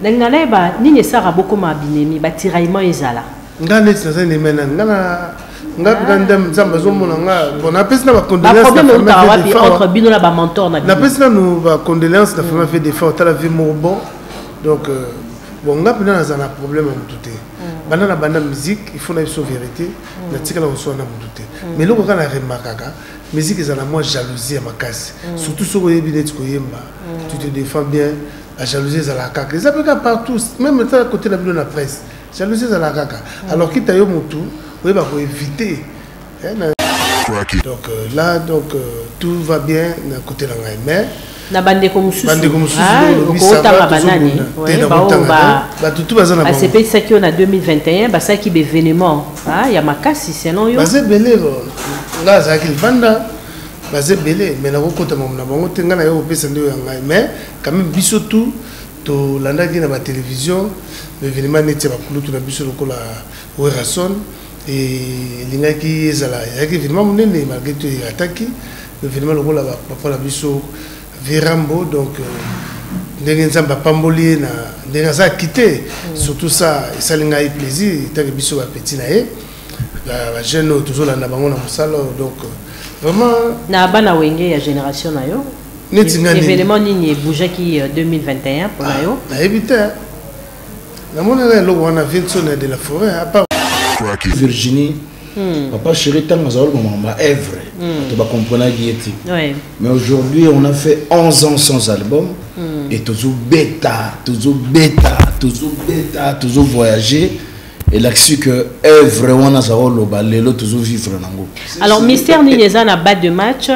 nalinga nayeba nini esaka bokoma binemi batiraillement ezala nga neti naza nemena nga na nga nga ndam nzambe azomona nga bon napesi na bacondoleanceautre bino na bamentor na napesi nanu bacondoleance na famille fait defa otala vie moko bon donc euh, bon nga mpena naza na problème ya motu te mm. banda na banda musique il faut na biso vérité mm. natikala koswana na motu te mm. mais eloko kaka na remarkaka musique ezala mwa jalousie ya makasi surtout soki oyebi neti koyemba tu te défend bien la jalousie ezalaka kaka eza mpe kaka partout même etala côté na bino na presse jalousie ezalaka kaka alors kita yo motu oyeba koevite donc euh, là donc euh, tout va bien na côté na ngai mais na bandeko mosusubato tu baza na basepekisaki yo na 2021 basalaki baevenement ah, ya makasi selon yo baza ebele nga azalaki libanda baza ebele mai nakokotama na bango te ngai naye kopesa nde oyo ya ngai mai quand même biso tout tolandaki na batelevizio baevenema neti ya bakulutu na biso lokola werrason elingaki ezala ezalaki evenema monene malgre to erataki evenema lokola bapapa na biso verambo donc euh, ndenge nzambe apamboli ye na ndenge aza akite mm. surtout ça esali ngai plaisir etanke biso bapeti na ye bajeune oyo tozolanda bango na mosala donc euh, vraiment na bana wenge ya génération na yo neti nga nini événement nini ebougaki 2021 mpo na yo nayebi te namonaka eloko wana vinson ya de la forêt apart virginie Hmm. Papa chéri, tant que Zaol Mamamba, Evre, hmm. tu vas comprendre qui était. Oui. Mais aujourd'hui, on a fait 11 ans sans album. Hmm. Et toujours bêta, toujours bêta, toujours bêta, toujours voyager. Et là, c'est que Evre, on a Zaol Loba, Lelo, toujours vivre. Alors, mystère Ninezan a bas de match.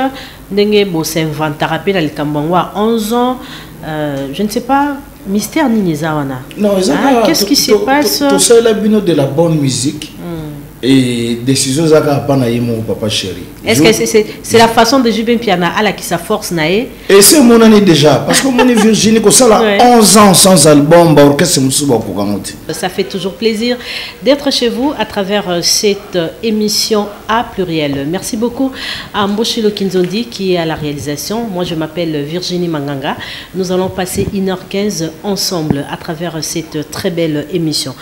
ndenge bo s'inventaka pe na likambo yango à 11 ans euh, je ne sais pas mystère nini eza wana non eza ah, qu'est-ce qui se passe tosalela bino de la bonne musique hmm. et décision eza kaka mpa na ye moko papa chéri est ce que c'est, c'est, c'est la façon de jube mpiana alakisa force na ye et se emonani déjà parce que omoni virginie kosala ouais. 11 ans sans album baorchestre mosusu bakokango te ça fait toujours plaisir d'être chez vous à travers euh, cette euh, émission A pluriel. Merci beaucoup à Mboshilo Kinzondi qui est à la réalisation. Moi, je m'appelle Virginie Manganga. Nous allons passer 1h15 ensemble à travers cette très belle émission.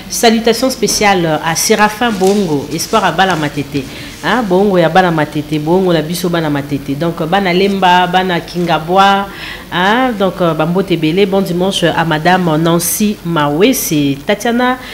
Salutations spéciales à Séraphin Bongo, Espoir à Balamatete. Hein, Bongo ya Balamatete, Bongo la biso Balamatete. Donc, Bana Lemba, Bana Kingaboa, hein, donc euh, Bambo Tebele. Bon dimanche à Madame Nancy Mawe, c'est Tatiana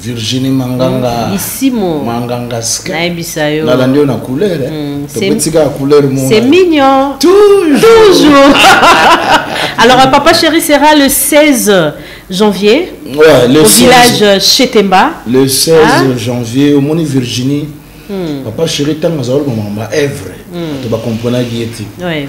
Virginie Manganga mm, Isimo Manganga Ska nayebisa yo nalandi yo na couleur eh. mm, tobetika ya couleur mona c'est mignon toujours, toujours. alors euh, papa chéri sera le 16 janvier ouais, le au 16, village euh, Chetemba le 16 hein? Ah. janvier au moni Virginie mm. papa chéri ntango azalaki komama baevre mm. to bakomprenaki ye te ouais.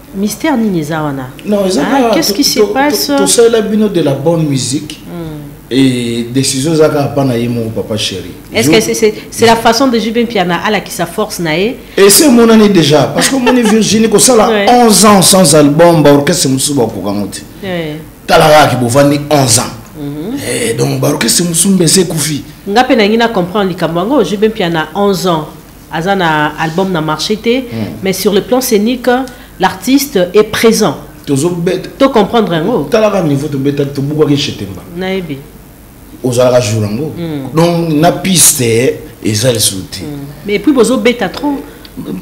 Mystère nini eza wana Non, eza Ah, kaka- qu'est-ce to- qui se to- to- passe tosalela bino de la bonne musique et décision eza kaka mpa na ye moko papa chéri Est-ce que c'est c'est- c'est la façon de JB Mpiana ala qui sa force na ye ese emonani déjà parce que omoni virginie kosala Ouais. 11 ans sans album baorchestre mosusu bakoka ngo te Eh, tala kaka ke bovandi 11 ans Eh, donc baorchestre mosusu mbe ese ekufi nga mpe nangi na comprendre likambo yango JB Mpiana 11 ans aza na album na marché te hmm. mais sur le plan scénique l'artiste est présent tozobeta to comprendre yango talaka niveau tobeta tobukaki chetemba nayebi ozalaka jour yango hmm. donc na piste eza lisusu te hmm. mais puis bozobeta trop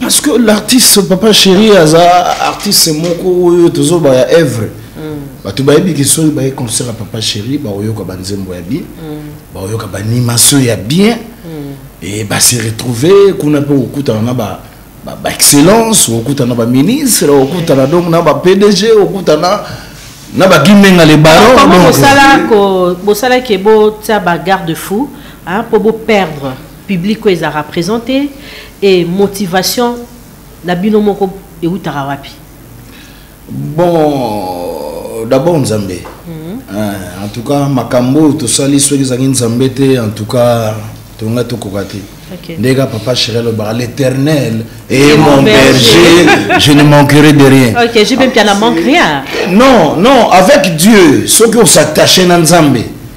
parce que l'artiste papa chéri aza artiste moko oyo tozoba ya œuvre hmm. bato bayebiki soki baye concert ya papa chéri bakoyoka banzembo ya bien bakoyoka banimatio ya bien et ba se retrouver kuna mpe okutana na ba ba excellence okutana ba ministre okutana donc na ba pdg okutana na ba gimenga le baron donc bosala ko bosala ke bo tia ba garde fou hein pour bo perdre public oyo ezalaka présente et motivation na bino moko eutaka wapi bon d'abord nzambe mm -hmm. en tout cas makambo oyo tosali soki ezangi nzambe te en tout cas tonga tokoka te okay. ndenge kaka papa chéri alobaka l'éternel et mon berger je ne manquerai de rien ok je mpe mpiana manque rien non non avec dieu soki osattache na nzambe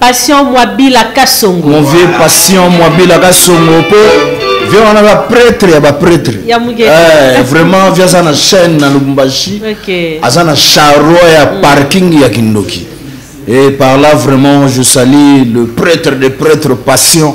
Passion Mwabila Kasongo. Mon vieux Passion Mwabila Kasongo po vieux wana ba prêtre ya ba prêtre. Ya mugete. Eh, vraiment vieux aza na chaîne na Lubumbashi. Okay. Aza na charroi ya mm. parking ya Kindoki. Et par là vraiment je salue le prêtre des prêtres Passion.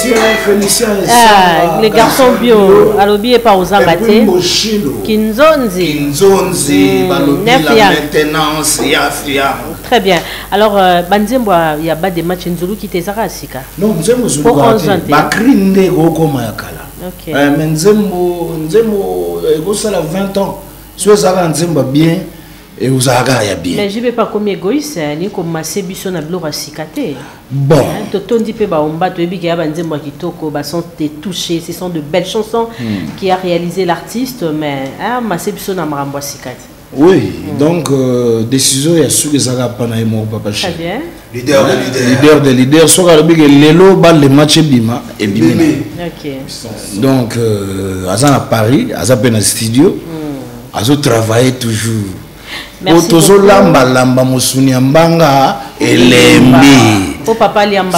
Ah, le garçon bio alobi epa ozanga te kinzonzi hmm, très bien alors euh, banzembo ya bas de match nzuluki te ezaka ya sika bakri nde ekokoma ya kala euh, mais nzembo nzembo euh, ekosala 20 ans so ezalaka nzembo bien Et vous avez ya bien. Mais je vais pas comme égoïste, hein, ni comme masse biso na blora sikate. Bon. Hein, to tondi pe ba omba to ebiga ba nzembo kitoko, ba sont des touchés, ce sont de belles chansons hmm. qui a réalisé l'artiste mais hein, masse biso na marambo sikate. Oui, hmm. donc euh, décision ya suki zaka pa na yemo papa chéri. Très bien. leader de leader leader de leader soki alobi ke lelo balle match ebima ebimi na donc euh, aza na paris aza mpe na studio hmm. azotravaille toujours po tozolambalamba mosuni ya mbanga elembi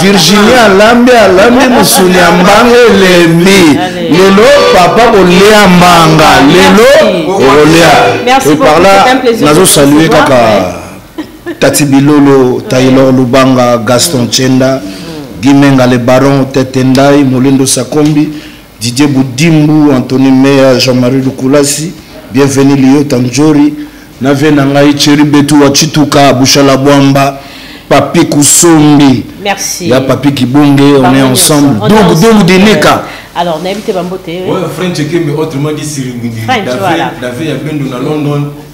virginie alambi alambi mosuni ya mbanga elembi lelo papa kolia mbanga lelo okolia eparla nazosalue kaka Tati Bilolo, Taylor Lubanga, Gaston mm. Chenda, mm. Guy Menga le Baron, Tete Ndai, Molendo Sakombi, Didier Boudimbu, Anthony Meya, Jean-Marie Lukulasi, Bienvenue Lio Tanjori, na vie na ngai Thierry Betu wa Chituka, Bushala Bwamba, Papi Kusombi, Merci. ya Papi Kibonge, on est ensemble. Donc, donc, Dineka. Alors, nayebi te bambote. Ouais, French Ekembe, autrement dit Siringindi. French, voilà. David ya Bendo na London.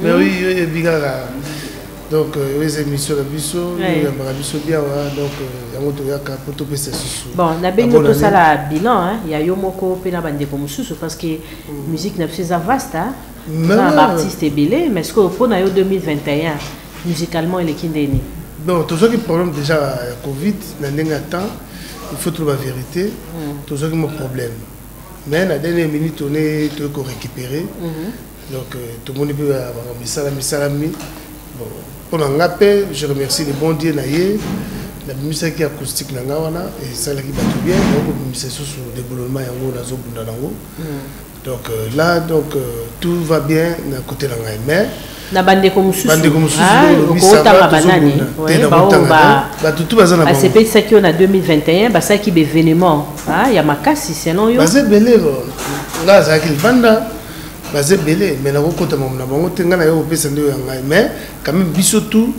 mais oui yo yebi kaka donc euh, oyo eza émission na biso oyambaka biso biawa donc euh, yango toyaka mpo topesa susu bon nabengi yo tosala bilan ya yo moko mpe na bandeko mosusu parce que mm. musique na biso eza vaste na baartiste ebele mais sikoyo mpo na yo 2021 musicalement eleki ndeni bon tozwaki problème déjà ya covid na ndenge ya temps il faut toloba vérité mm. tozwaki mo problème mais na dernière minute one toyei korécupérer mm-hmm. Donc, euh, tout le monde peut avoir un missal, un missal, un missal. Bon, pour un appel, je remercie le bon Dieu, naïe. La musique qui est acoustique, n'a pas wana, et ça l'a qui va tout bien. Donc, le missal sous le déboulonnement, il y a un oiseau bunda nango. Donc, euh, là, donc, euh, tout va bien, n'a côté la naïe. Mais, na bandeko mosusu bandeko mosusu ah, okotanga banani bato tu baza na basepekisaki yo na 2021 basalaki baévénement ah, ya makasi selon yo baza ebele nga azalaki libanda baza ebele mai nakokota mamu na bango te ngai naye kopesa nde oyo ya ngai mai quand même biso tout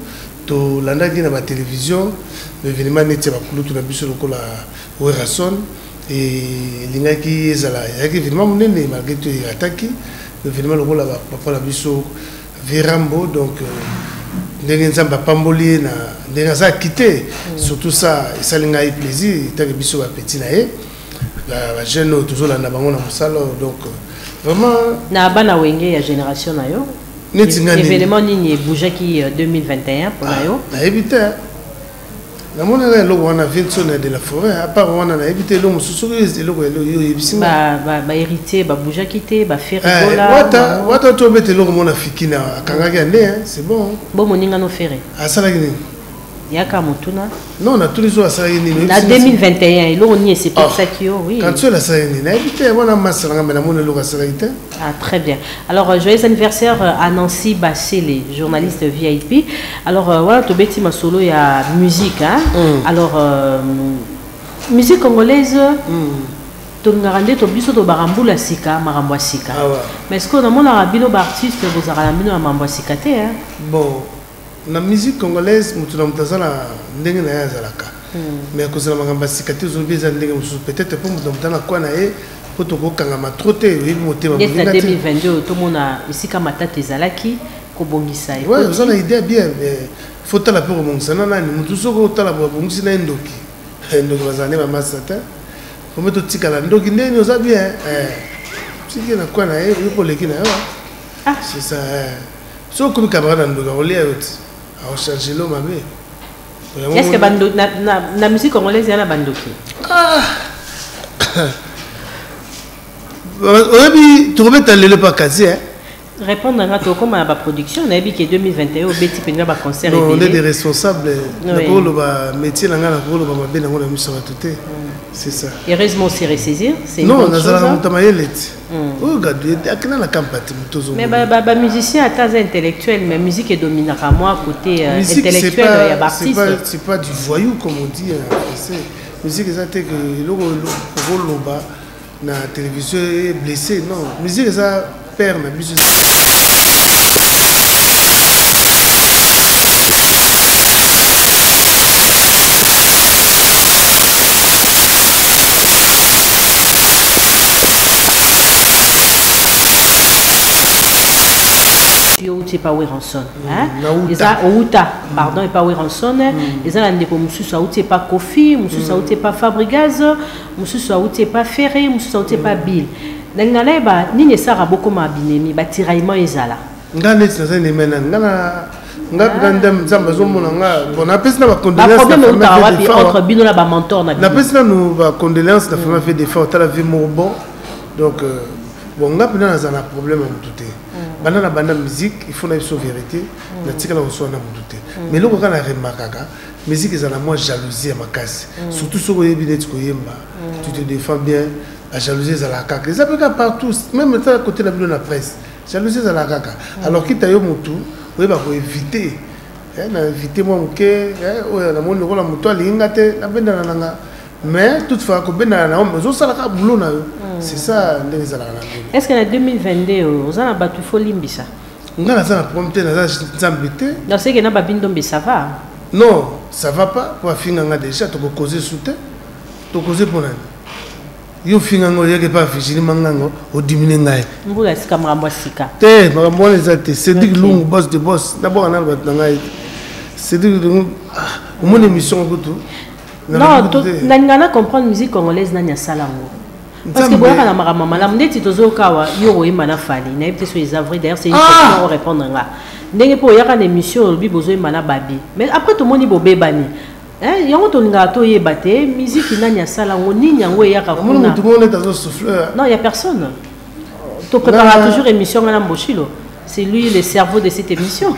tolandaki na batelevizio baevenema neti ya bakulutu na biso lokola werason elingaki ezala ezalaki evenema monene malgre to erataki evenema lokola papa na biso verambo donc euh, ndenge nzambe apamboli ye na ndenge aza akite mm. surtout ça esali ngai plaisir etanke biso bapeti na ye ba jeune oyo tozolanda bango na mosala oyo donc vraiment na bana wenge ya génération na yo neti nga événement nini ebougaki 2021 mpo na yo nayebi te namonaka eloko wana vinson ya de la forêt apart wana nayebi te eloko mosusu soki eloko yo oyebisi baheritier baboujaki te baferewata tobeta eloko mona fiki na akangaki ya nde c'est bon bo moninga no fere asalaki nini yaka motuna non natuni so asala ye nini na 2021 eloko nini esepesaki yo oui kanti oyo nasala ye nini nayebi te yango na masala nga me namoni eloko asalaki te ah très bien alors euh, joyeux anniversaire euh, à nancy basele journaliste vip alors euh, wana tobeti masolo ya musique hein? mm. alors euh, musique congolaise mm. tolingaka nde to biso tobaka mbula ya sika makambo ya sika ah mais sikoyo namonaka bino baartiste bozalaka na bino na makambo ya sika te bon na musique congolaise moto na moto aza na ndenge na ye azalaka hmm. mais akozala makambo ya sika te ozolobi eza ndenge mosusu peut-être mpo moto na moto na kwa na ye mpo tokokangama tro te oyebi motema 2022 tomona esika matata ezalaki kobongisa oza na idée bien mais faut tala mpe kobongisa na nani motu soki otala babongisi na ye ndoki eh, ndoki bazala nde bamasa te ombe totikala ndoki ndeni oza bien eh, tiki na kwa na ye oyekoleki na yo ah. c'est ça eh. soki okomi camarade ya ndoki akolia yo ti aocharge lo mabe est ce que na musique congolaise ya na bandoki ah! oyebi tokobeta lelo epa kasi e répondre nanga tokóma na baproduction nayebi ke 2021 obeti mpenza baconcert nde de responsable nakoloba métier na ngai nakoloba mabe nango na miso ya bato te c'est ça heureusement se ressaisir non nazalaka moto ya mayele ti Mm. oyo gadu ete akenda na kampati moto ozobamusicien ata aza intellectuel mais musique edominaka mwa côté euh, intellectuel euh, ya baartiste pas du voyou comme on dit en français musique eza te ke eloko okoloba na télévision e blessé non musique eza père na biso yo outi epa weranson mm, eza outa mm. pardon epa weranson mm. eza na ndeko mosusu auti epa kofi mosusu auti epa fabrigaz mosusu auti epa ferre mosusu auti epa bill nalinga nayeba nini esaka bokoma binemi batiraillement ezala nga neti naza nemena nga na nga ah. grand dame nzambe azomona nga bon napesi na bacondoleancenapesi nanu bacondoleance na fama fe defa otala vie moko bon donc euh, bon nga mpena naza na problème ya motu te mm. banda na banda musique il faut na biso vérité mm. natikala koswana na motu te mm. mais eloko kaka na remarkaka musique eza na mwa jalousie ya makasi surtout soki oyebi neti koyemba tu te défend bien la jalousie ezalaka kaka eza mpe kaka partout même eza kote na bino na presse jalousie ezala kaka alors kita yo mutu oyeba ko éviter eh, na éviter mwa moke eh, oyo namoni lokola moto alingi nga te nabendana na nga mais toute fois kobendana na yo mais osalaka boulot na yo hmm. c'est ça ndenge ezalaka na bino est ce que na 2022 oyo oza na bato ifo olimbisa nga naza na problème te naza nzambe te naseke na babindombe ça va non ça va pas po afinga nga déjà tokokoze su te tokoze mpo nani yo finga ngo yeke pa affichini mangango odimine ngai mbula ya sika makambo ya sika te makambo wana eza te cédrik lungu bos de bos naboka nano bato na ngai te cédrik lungu ah, omoni émission kutu non nalinga na comprendre musique congolaise nani asala yango parce que boyaka na makambo ya malamu ndeti tozoyoka awa yo oyemba na fali nayebi te so eza vrai d'ailleurs c'est une ah! question orépondre nga ndenge mpe oyaka na émission olobi bozoyemba na babi mais après tomoni bobebani Eh, yango tolingaka toyeba te miziki nani asala yango nini yango eyaka non ya personne to préparaka toujours émission ngai na mboshilo c'est lui le cerveau de cette émission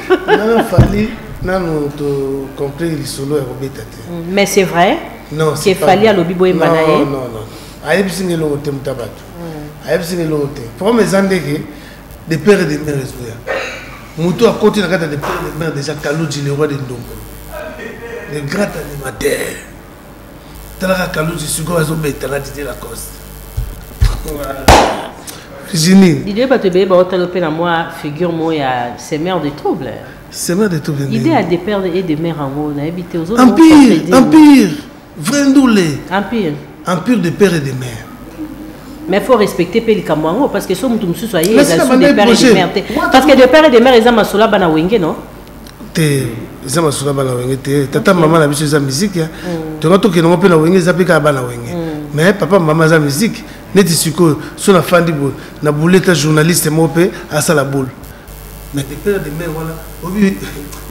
nanu tocomple lisolo ya kobeta te mm, mais c'est vrai ke fali alobi boyemba na ye ayebisi nga elongo te moto ya bato mm. ayebisi nga elongo te problème eza ndeke de père et de mère ezoya moto akoti na kati ya de père et de mère déjà kaludji le roi de ndongo le grand animateur talaka kaludji sikoyo azobeta na didie lacoste virginie didie bato ebeye baotala mpe na mwa figure moko ya semeur de trouble semeur de trouble idée ya de père et de mère yango nayebi te ozo empire empire vrai ndule empire empire de père et de mère mais faut respecter mpe likambo yango parce que so moto mosusu aye eza su de père et de mère te parce que de père et de mère eza masola bana wenge non te eza masolo bana wenge te tata mama na biso eza miziki mm. tonga tokende yango mpe na wenge eza mpe kaka bana wenge mm. mais papa mama aza miziki neti sikoyo so nafandi boye na buleta journaliste moko mpe asala bole mais de père de mère wana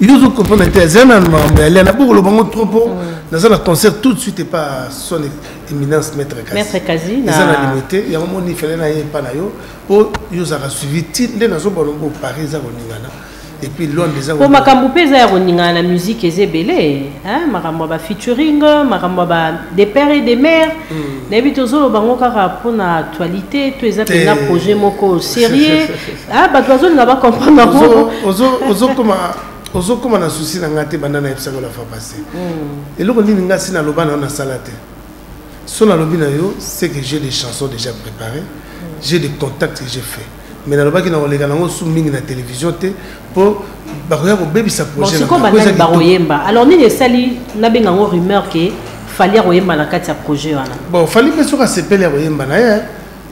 yo ozo comprendre te aza na mambo ya lia naboko loba ngo trop po naza na concert tout de suite epa son éminence maître kasi eza na limo te yango moni fele na ye epa na yo po yo ozalaka suivi ti nde nazobona ngo paris eza koningana epuis londre eza po makambo mpe eza ya koningana na musique eza ebele makambo ya bafeaturing makambo ya ba de père et de mère hmm. nayebi tozoloba ngo kaka mpo na actualité to eza mpenza projet moko sérieux Ah, bato bazolinga bacomprendre ozokoma ozokoma na souci na ngai te banda nayebisaka la fois passé hmm. eloko nini ngai si naloba na yo nasala te so nalobi na yo c'est que j'ai des chansons déjà préparées hmm. j'ai des contacts que j'ai fait mais nalobaki na koleka nango su mingi na télévision te mpo bakoya kobebisa projetbakoyemba alors nini esali nabenga yango rumeur ke fali akoyemba na kati ya projet wana bon fali mpe soki asepeli akoyemba na ye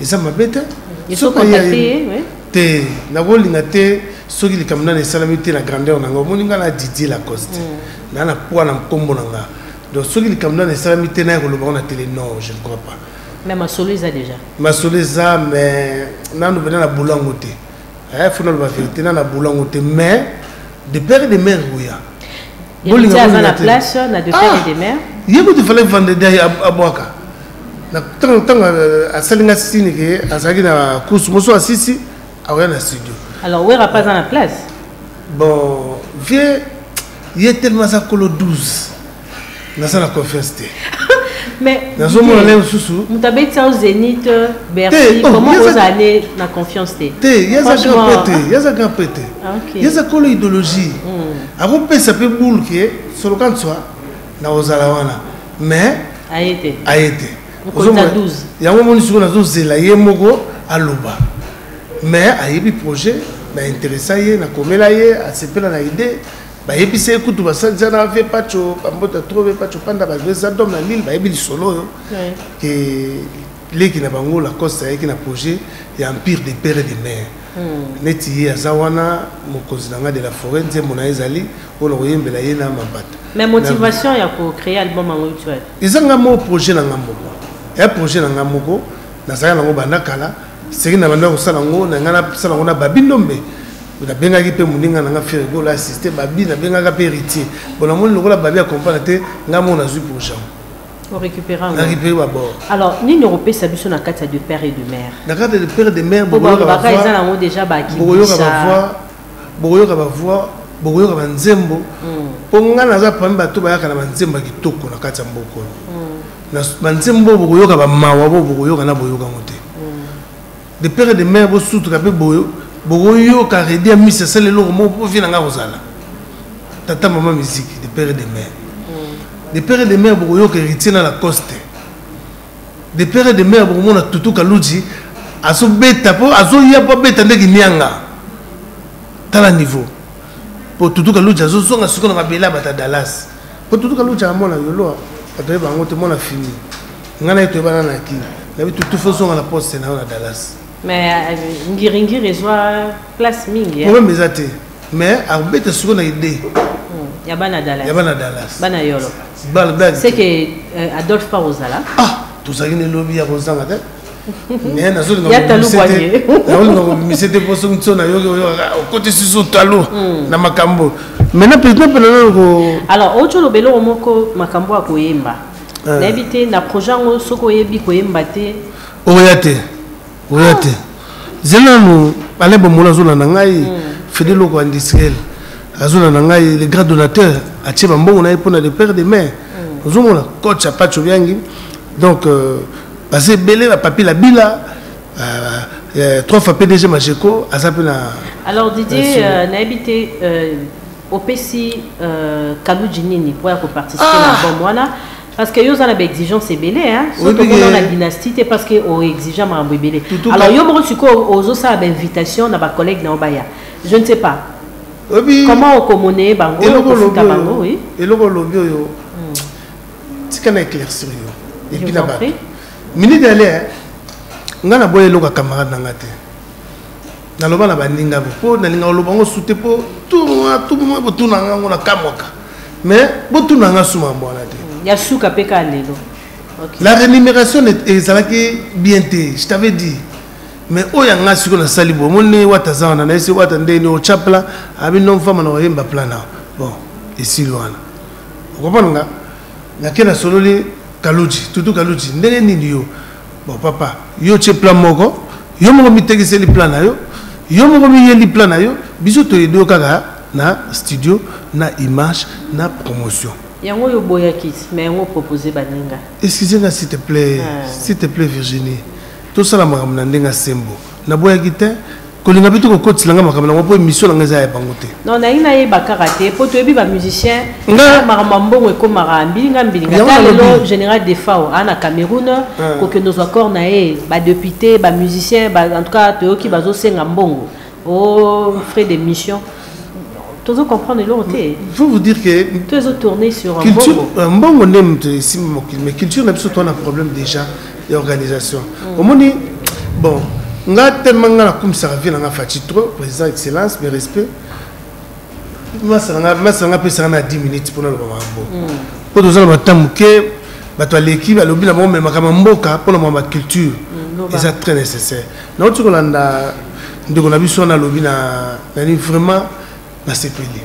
eza mabe te te nakolinga te soki likambo nani esalami te na grandeur na nga omoni nga na didie lacoste mm. na na poids na nkombo na nga donc soki likambo nani esalami te naye koloba na tele non je ne crois pas mais masolo eza déjà masolo eza mais nanu mpena na bolango te eh, fo naloba verité na na bolango te mais de père et de mère oya bolinga aza na place na de père et de mère ye kutu fallait vendredi abwaka ntango ntango asali nga sini ke azalaki na course mosusu asisi akoya na studio alors wera pas aza na place bon vieux ye tellement aza kolo 12 naza na confiance te mais nazomona lelo susu moto abeti ao zénith euh, bercy oh, comment oza ne na confiance te te yaza grand pe te yaza grand pe te yaza kolo idéologie hmm. akopesa mpe boule ke soloka nswa na kozala wana mais aye te aye te yango omoni sikoyo nazozela ye moko aloba mais ayebi projet na interesa ye nakomela ye asepela na idée bayebisa ye kutu basalisi na vie paco bambota tro vie paco panda bagresa dom na lille bayebi lisolo oyo ke leki na bango lacoste ayaki na projet ya empire de père et de mare hmm. neti ye aza wana mokonzi na ngai de la forêt nzembo na ye ezali oyo na koyembela ye na mabata mais motivation ya kocree album yango eza ngai moko projet na ngai moko ya projet na ngai moko nazalaki nango banda kala seki na banda kosala yango na ngai nasala yango na babi ndombe nabengaki mpe moninga na ngai ferigolo assiste babi nabengaka mpe héritier bon namoni lokola babi acomprendre te ngai moko nazwi pour jean récupéré babord alors nini okopesa biso na kati ya de père et de mère na kati ya de père et de mère bokoyoka bavoix bokoyoka ba voix bokoyoka ba nzembo mm. po ngai naza pami bato bayaka na banzembo ya kitoko na kati ya mboka oyo mm. banzembo oyo bokoyoka bamawa bo bokoyoka na boyoka yango te mm. de pere de mare bosutuka mpe boyo bokoyoka redi ya misi asala eloko moko mpo vi na ngai kozala tata mama miziki de pere de mare de pere de mare bokoyoka héritier na lacoste de père et de mère bokomona tutu kaludzi azobeta mpo azoya mpo abeta nde kinianga tala niveau mpo tutu kaludzi azozonga siko na mabele ya bata dallas mpo tutu kaludzi amona yoloa bato ye bango te mona fini ngai na ye toyebana na kini nayebi tutu fo ozonga na poste na yo na dallas mais euh, ngiringiri ezwa place mingi problème eza te mais abeta sikoyo na idee hmm, ya bana dallas ya bana dallas bana yolo bana dallas c'est que euh, adolphe pa ozala ah tozalaki na elobi ya kozanga te mais nazolingaolinga kobimise te mpo soki nso nayoki okoti susu talo hmm. na makambo maintenant président mpe naloko alors oco oloba eloko moko makambo ya koyemba ah. nayebi te na projet yango soki oyebi koyemba te oya te oya te zela nanu alain bamola azolanda ngai hmm. fede loko ya industriel azolanda ngai le grand donateur atie bambongo na ye mpona le père de maire hmm. ozomona coach ya pacho biangi donc euh, baza ebele bapapi la bila euh, euh, trois fois pdg majeco aza mpe na alors didier nayebi te opesi kaludji nini mpo ya koparticipe na ah! bom wana Parce que yo oza na ba exigence ebele hein. Oui, Surtout mais- na dynastie te parce que o exigea makambo ebele. Tutu Alors ka- yo moko sikoyo ozosala ba invitation na ba collègues na yo baya. Je ne sais pas. oyebi Comment okomoneye bango eloko olobi okofuta bango oyo oui. eloko olobi oyo tika na éclaircir yo Je epi vous na en bato prie. minute ale ngai naboya eloko ya camarade na ngai te naloba na baninga po nalinga oloba ngo sute po tournoi tout moment botuna nga ngo na kamwaka mais botuna nga suma mambo wana te mm, ya suka mpe ka lelo la rémunération ezalaki bien te je t'avais dit mais oyo ya nga sikoyo nasali bo omoni wata aza wana nayesi wata ndeni otya plan abi no mfama na oyemba plan na bon esili wana okomona nga nake nasololi kaluji tutu kaluji ndenge nini yo Bon papa, yo tse plan moko, yo moko mitekiseli plan na yo, yo moko miyeli plan na yo, biso toyebi yo kaka na studio, na image, na promotion. Yango yo boyaki, mais yango proposer baninga. Excusez nga s'il te plaît, ah. s'il te plaît Virginie. Tosala makambo na ndenga sembo. Na boyaki te, kolinga mpe tokokotisa nanga makambo nango mpo emission nanga eza ya bango te non nalingi nayeba kaka te mpo toyebi bamusicien makambo ya mbongo ekomaka mbilinga mbilinga ta lelo général defao aa na cameroun kokende ozwa corps na ye badepute bamusicien en tout cas toyoki bazosenga mbongo o oh, frais de mission tozo comprendre eloko te je vous dire que tozo tourner sur mbongo mbongo nde moto esimbi mokili mais culture na biso toana problème déjà ya organisation mm. omoni bon nga tellement nga nakumisaka vie na nga faci trop président excellence mes respect masanga masanga apesaka na 10 minutes mpona loba makambo mm. mpo toza na bata moke bato aleki balobi na bango memaka ma mboka mpona mwa baculture mm, eza très nécessaire nauti kolanda ndeko na biso wana alobi na nani vraiment nasepeli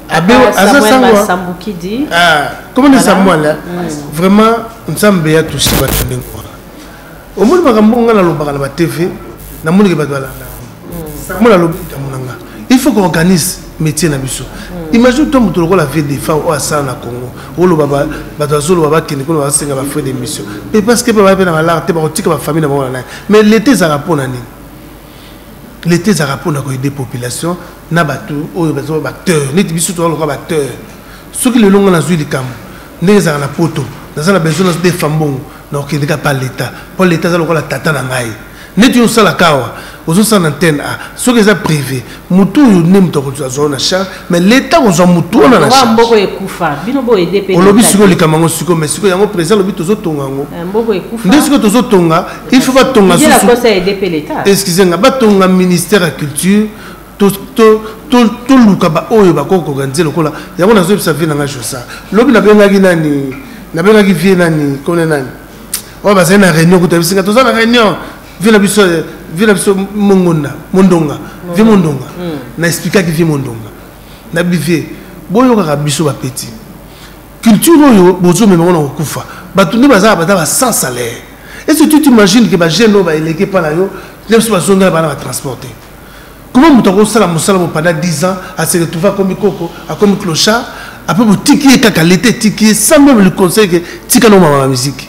abe ah, aza sangwasambukidi ah, komona samwala mm. vraiment nzambe ya tusi bato ndenge wana omoni makambo ngai nalobaka na batv namonike bato balanda yango nalobi likambo na ngai il faut qu'organise métier na biso mm. imagine to moto lokola vie de fa oyo asala na congo oloba bato azoloba bakende kuna basenga bafrai de mission mais parce que mpe baye mpe na balare te bakotika bafamille na bango na naye mais leta ezalaka mpo na nini leta ezalaka mpona koyede population na bato oyo baza baacteur neti biso toza lokola baacteur soki lelo ngai nazwi likambo ndenge ezalaka na poto naza na besoin nazodefa mbongo nakokende kaka pa leta mpo leta aza lokola tata na ngai neti yo osalaka awa ozosala na ntene a soki eza privé motu oyo nde moto akozwa na charge mais leta kozwa motu wana na mboko ekufa bino bo ede pe olobi siko likambo yango siko mais siko yango président alobi tozotonga yango eh, mboko ekufa nde siko tozotonga il faut batonga excuse nga batonga ministère ya culture toluka baoyo bakoki koorganize lokola yango nazoyebisa vie nanga josa lobi nabengaki nani nabengaki vie nani kone nani oyo bazali na réunion kuta bisinga toza na réunion vie na biso vie na biso mongonda mondonga vie mondonga hmm. na explikaki vie mondonga na bivie boyokaka biso bapeti culture oyo bozomema ngo na kokufa bato nde bazala bata ba sans salaire est ce que tu t'imagines ke bajeune oyo baeleke epa na yo nde biso bazongela bana batransporte comment moto akosala mosala mo pendant 10 ans ase retrouve akomi koko akomi clochard apres botiki ye kaka leta etiki ye sans meme le conseil ke tika no mama na miziki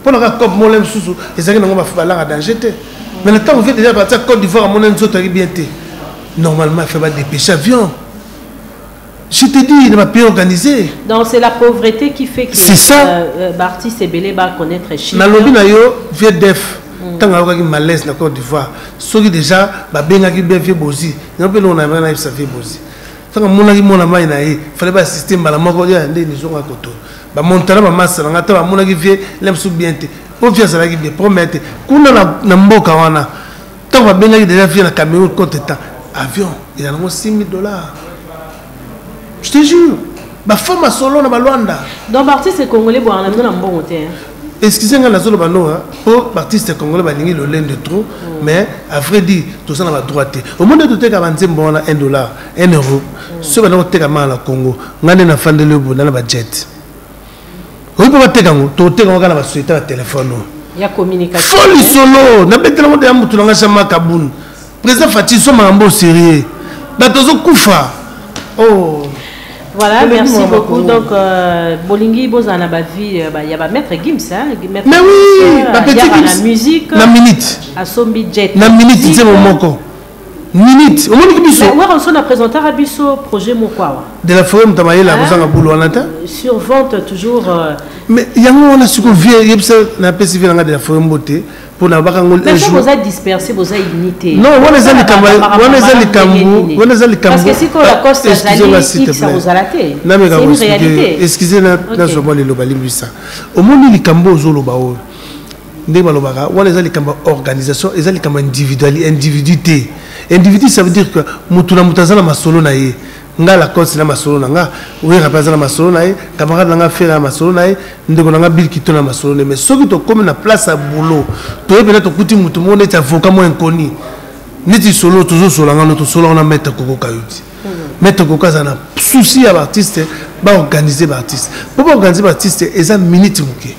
mpo na kaka cope mole mosusu ezalaki nango bafubalanga danger te mais na ntango vie déjà batia cote d'ivoire amona nzoto yaki bien te normalement il faut badépêche avion je te dis na bapays organisé donc c'est la pauvreté qui fait que c'est ça euh, euh, baartiste ebele baconnaître chine nalobi na yo vie def ntango mm. ayokaki malaise na cote d'ivoire soki déjà babengaki bien vie bozi yango mpe longo na yamaka nayebisa vie bozi ntango amonaki mwana mai na ye fale baassiste mbala moko nde nizonga koto ba montana ba masa na nga ta bamonaki vie lem su bien te po vie azalaki bien problème te kuna na, na mboka wana ntango babengaki deja vie na cameroun contre temps avion eza nango 6000 dollars je te jure bafo masolo na balwanda donc baartiste congolais bwana na bino na mbongo te hein? excuse ngai nazoloba no mpo baartiste congolais balingi lolende trop mm. mais à vrai dire toza na badroit te omoni toteka banzembo wana 1 dollar enervo soki banda koteka manga na congo ngai nde nafandeli yo bonda na bajet oyi mpo bateka yango toteka yango kaka na basociété ya telefone oyo fo lisolo nabetelango deya motu na ngai sama kabun président fati so makambo o sérieux bato azokufa o oh. Voilà, merci beaucoup. Donc, euh, Bolingi, Bozana, ma vie, euh, bah, il y a ma maître Gims, hein, maître Mais oui, euh, ma petite Gims. La musique. La minute. À Sombi Jet. La minute, c'est mon moko. minute omoni ki biso eh, werrason na présentaka biso projet moko awa de la forêt moto amayele akozanga bulu wana te sur vente toujours euh, mais yango wana siko vie yebisa napesi vie nanga de la forêt mbote mpo na baka ngo boza disperse boza unité non wana eza likambo wana eza likambo wana eza likamboexcusenameka excuse nazwa mwa liloba limbisa omoni likambo ozoloba oyo ndenge balobaka wana eza likambo ya organisation eza likambo individuali individu te individu ça veut dire que motu na motu aza na masolo na ye nga lacoste na masolo na nga oyera mpe aza na masolo na ye camarade na nga fere na masolo na ye ndeko na nga bilkito na masolo na ye mais soki tokómi na place ya boulot toye mpena tokuti motu moko neti avocat mo inconi neti solo tozosola ngano tosolaka na maître kokoka yo ti mhm. maître kokoka aza na souci ya baartiste baorganize baartiste mpo baorganize baartiste eza minute moke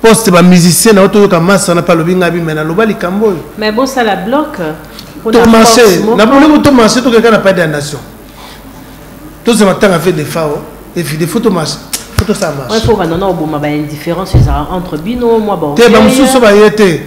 poste ba musicien na yo toyoka masa na palobi nga bima na loba likambo oyo mais bon ça la bloque to marché na bolingo to marché to keka na pas de nation to se matanga fait des fao et puis des photos marché photo ça marche ouais faut ba non non bon ma ba indifférence ça entre bino moi bon te ba mususu ba yete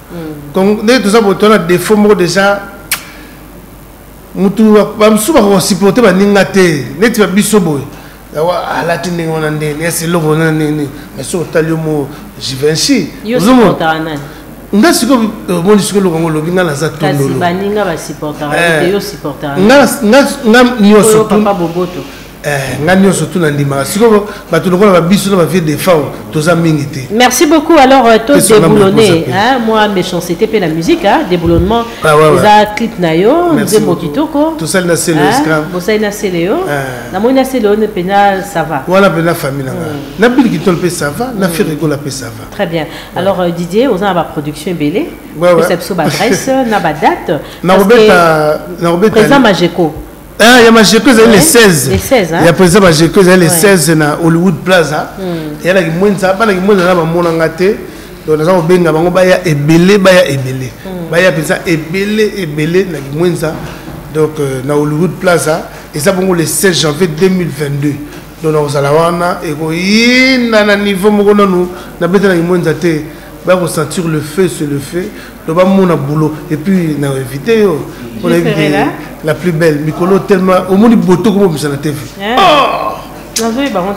donc ndenge toza boto na défaut moko déjà mutu bamosusu bakosupporte baninga te neti babiso boye alati ah, ndenge wana ndeni esi eloko wana nini mais soki otali yo mo jivenci nga sikoyo omoni sikoyo eloko yango olobi nga naza tondolo nga nyonso Eh, nga nyonso tu nandimaka sikoyo bato lokola babiso na bavie defao toza mingi te merci beaucoup alors euh, to déboulonne moi méchancité mpe na musique déboulonnement ah, eza clip na yo nzembo kitoko tosali na sele bosali na sele yo eh. namoni na sele yo mpenza ça va wana mpenza famille na nga mm. na bili kitolo mpe ça va na mm. ferikola mpe ça va très bien alors euh, didier oza na baproduction ebele pesa biso baadresse na badate nakobeta président majeco Ah, ya majeko ezali le 16 hein? ya président majeko ezali le 16 na hollywood plaza hmm. eyalaki mwenza bana kimwenza na bamona nga te donc naza kobenga bango baya ebele baya ebele hmm. baya mpenza ebele ebele na kimwenza donc euh, na hollywood plaza eza bongo le 16 janvier 2022 donc nakozala wana ekoyinda na niveau moko nanu nabeta na kimwenza te bakosentir le feu se le feu loba mona boulot et puis na invité yo on a invité la plus belle mikolo tellement au monde boto comme ça na TV oh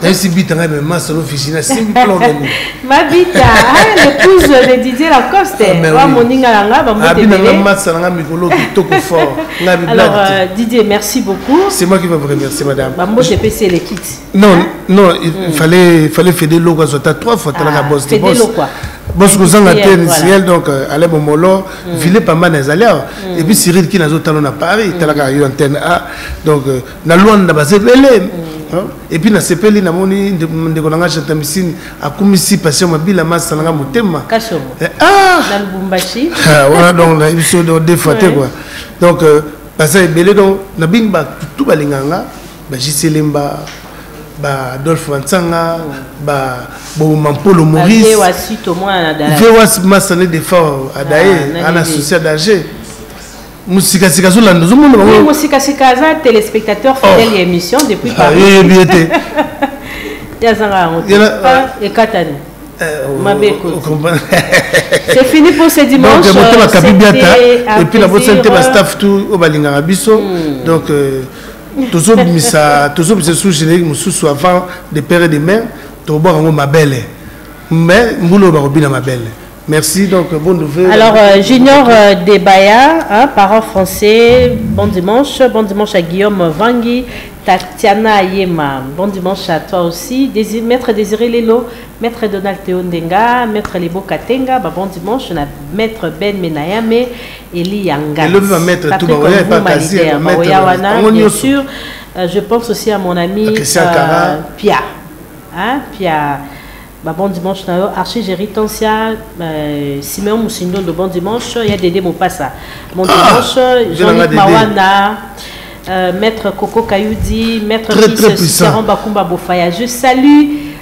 nayesi bita ngai mema solo ofisi nasimbi plan na nini mabita l'épouse de didier lacoste wa moninga na ngai bamobinanga matsa na ngai mikolo kitoko fort ngai bibladi didier merci beaucoup c'est moi qui va vous remercier madame bambote epesi elekiti Non, hein? non, il mm. fallait, fallait Fede Logo à Zota trois fois, t'as la ah, boss. Fede Logo quoi Boss cousin la terre initiale, donc euh, Alain Momolo, mm. Ville Pamba Nazalé, mm. et puis Cyril qui n'a pas talon à Paris, t'as la eu antenne A, donc, euh, na loin n'a pas zébélé. Hein? Et puis na sepeli na moni de de konanga chata misini akumi si passion mabila masa nanga motema. Kasho. Eh, ah. Na Lubumbashi. Ah, voilà donc na biso de défaté quoi. Donc, euh, basa ebele donc na bing ba tout balinganga. ba JC Lemba ba Adolphe Bansanga mm. ba Boma Mpolo Maurice Vewas Masane de Fort Adaye ah, ana souci d'âge mosikasika azolanda ozomona bango mosikasika aza téléspectateur oh. fidèle ya émission depuis ah, yeyebi ye te yazanga yango ah, ekatani eh, oh, mabe c'est fini pour ce dimanche donc motema kabibiata et puis na bosani te ba staff tout oyo balingaka biso hmm. donc euh, tozobimisa tozobimisa sous générique mosusu avant de père et de mère tobwaka yango mabele mais mbula oyo bakobina mabele Merci, donc bon nouvel. Alors, euh, Junior euh, Debaya, hein, parent français, bon dimanche. Bon dimanche à Guillaume Vangi, Tatiana Yema. Bon dimanche à toi aussi. Désir, Maître Désiré Lelo, Maître Donald Théo Ndenga, Maître Lebo Katenga, bah, bon dimanche. On a Maître Ben Menayame, Eliya Ngat. Elobi ba maître tout ba oya pas kasi ba maître. Bien sûr, euh, je pense aussi à mon ami euh, Pia. Hein, Pia. Bah, bon dimanche na yo archi jerry tansia euh, simeon musindondo bon dimanche ya dede mopasa bon ah, dimanche jean-luc mawana euh, maître coco kayudi maître Miss, Bakumba Bofaya je salue